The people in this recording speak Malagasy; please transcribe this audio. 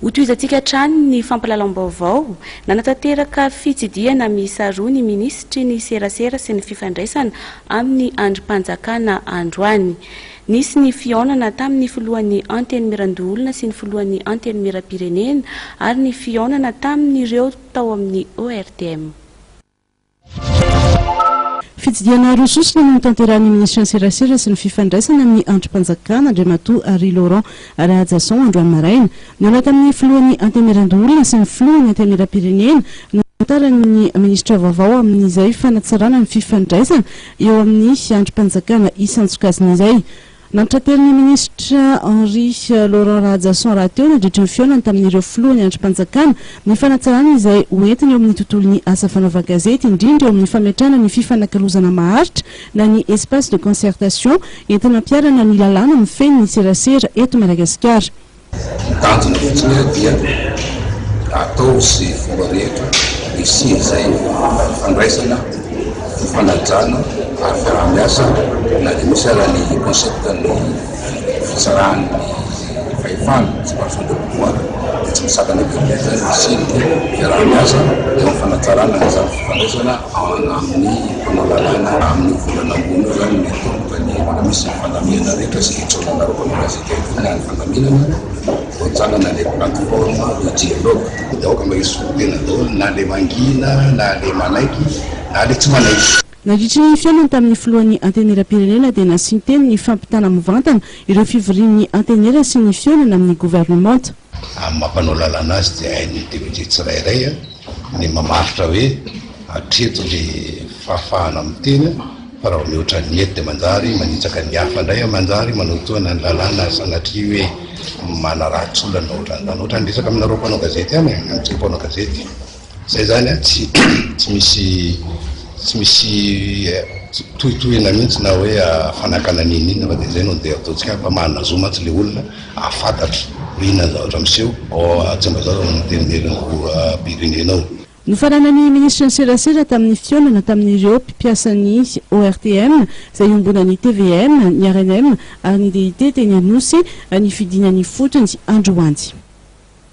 Hotohizantsika hatrany ny fampahalalam-baovao. Nanatanteraka fitsidihana miisa roa ny minisitry ny Serasera sy ny fifandraisana amin'ny andrim-panjakana androany. Nisy ny fihaonana tamin'ny filohan'ny Antenimierandoholona sy ny filohan'ny Antenimierampirenena ary ny fihaonana tamin'ireo tao amin'ny ORTM. Fitsidihana roa sosona no notanterahin'ny minisitry ny Serasera sy ny fifandraisana amin'ny andrim-panjakana, Andriamatoa Harry Laurent Rahajason, androany maraina. Nihaona tamin'ny filohan'ny Antenimierandoholona sy ny filohan'ny Antenimierampirenena no nitantarain'ny minisitra vaovao amin'izay fanatsarana ny fifandraisana eo amin'ny andrim-panjakana isan-tsokajiny izay Nantratelin'ny minisitra Henri Laurent Rahajason rahateo nandritra ny fihaonany tamin'ireo filohan'ny andrim-panjakana ny fanatsarana izay ho entiny eo amin'ny tontolon'ny asa fanaovan-gazety, indrindra eo amin'ny fametrahana ny fifanakalozana maharitra na ny espace de concertation entina hampiharana ny lalàna mifehy ny serasera eto Madagasikara. Ny tanjona fotsiny ary dia atao izay fomba rehetra hisian' izay fandraisana, fanajana ary fiaraha-miasa na dia misy aza ny concept ny fitsarahan' ny fahefana, séparation des pouvoirs, dia tsy misakana be be izany ny hisian' ny fiaraha-miasa eo amin' ny fanatsarana an' izany fifandraisana an' amin' ny mpanao lalàna amin' io volana ambony io izany ny tomboka ny mbola misy ny fandamihana rehetra sy ny fisaorana anareo mpanoratra. Raha ny fandaminana, voajanona ilay plateforme de dialogue. Ny vahoaka mba hisolo tena daholo na ilay mangina na ilay manaiky na ilay tsy manaiky. Nandritra ny fihaonany tamin'ny filohan'ny Antenimieram-pirenena dia nasian-teny ny fampitana mivantana ireo fivorian'ny Antenimiera sy ny fihaonana amin'ny governemanta. Amin'ny maha mpanao lalàna azy dia hain'ny député tsirairay ny mamaritra hoe hatreto ny fahafahana miteny fa raha vao mihoatra ny eto dia manjary manitsaka ny hafa indray, manjary manotoana ny lalàna sanatria hoe manaratsy olona na ohatran'izany. Ohatran'ny resaka aminareo mpanao gazety ihany e, amintsika mpanao gazety. Zay zany an, tsy tsy misy tsy misy tohitohina mihintsy na hoe fanakana n'in n'inona fa dia zay no dia ataontsika fa manana zo mantsy le olona ahafantatra hoe inona ny zavatra miseho ao a Tsimbazaza no antenimieran'ny filoham-pirenena ao. Nofaranan'ny minisitry ny serasera tamin'ny fihaonana tamin'ireo mpipiasan'ny ORTM izay iombonan'ny tvm, ny rnm ary ny DIT teny Anosy ny fidinana ifotony androany.